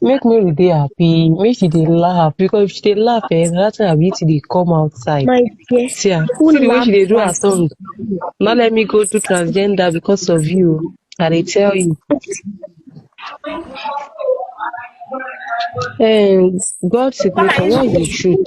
Make Mary dey happy, make she dey laugh because if she dey laugh eh, na that time her beauty dey come outside. My dear, See am, who see the way laugh she dey do her first? tongue. No let me go do transgender because of you. I dey tell you. Um, God signature, what is the truth?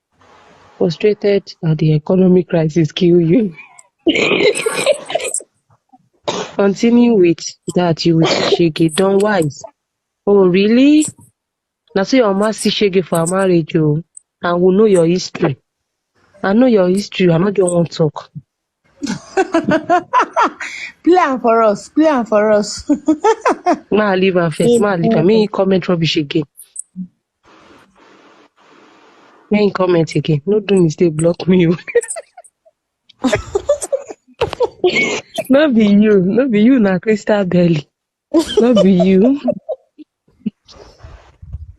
Frustrated that the economic crisis kill you. Continue with that you will see shege. Don wise. Oh really? Na so your mama see shege for her marriage o. And we know your history. I know your history. I no just wan talk. Play am for us. Play am for us. Ma leave am first. Ma leave am. Make him comment rubbish again. Make him comment again. No do mistake, block me. oh. no be you, no be you, na crystal belly. No be you.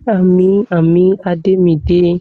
Ami, Ami, Ademide.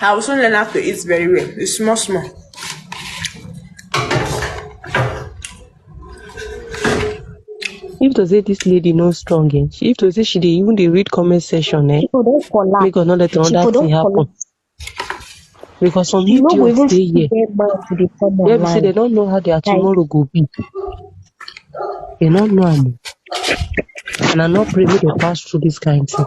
I will soon learn how to eat very well. It's small, small. If to say this lady no strong, eh? She- If to say she dey even dey read comment section, eh? She go don collapse. Make God no let She go another don thing happen. collapse. Because some You no go even idiots dey see here. get man to dey come Where be say they online. don't know how their Like, tomorrow go be. They don't know am. And I'm not privy to pass through this kind of thing.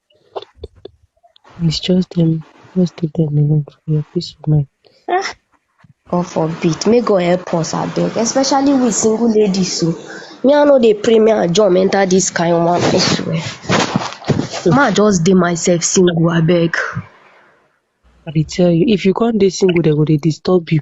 Please just tell me, just take them alone for your peace of mind. Ah, God forbid. May God help us, I beg. Especially with single ladies. So. Me, I know they pray me and John enter this kind of one. I swear. Ma just dey myself single, I beg. I dey tell you, if you can't dey single, they go dey disturb you.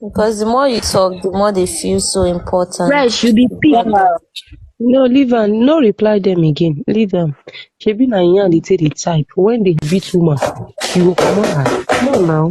Because the more you talk, the more they feel so important. Fresh, you be pig. No, leave am. No reply them again. Leave them. Shebi na yan dey take the type. When they beat woman, you go come on. Come on now.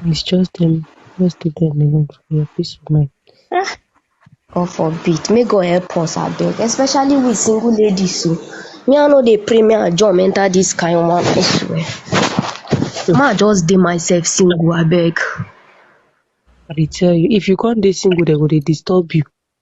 Please just tell me, just leave them alone for your peace of mind. Ah, God forbid, may God help us abeg, especially we single ladies so. Me I no dey pray me I jump enter this kind one, I swear. Ma I just dey myself single abeg. I dey tell you, if you come dey single, they go dey disturb you.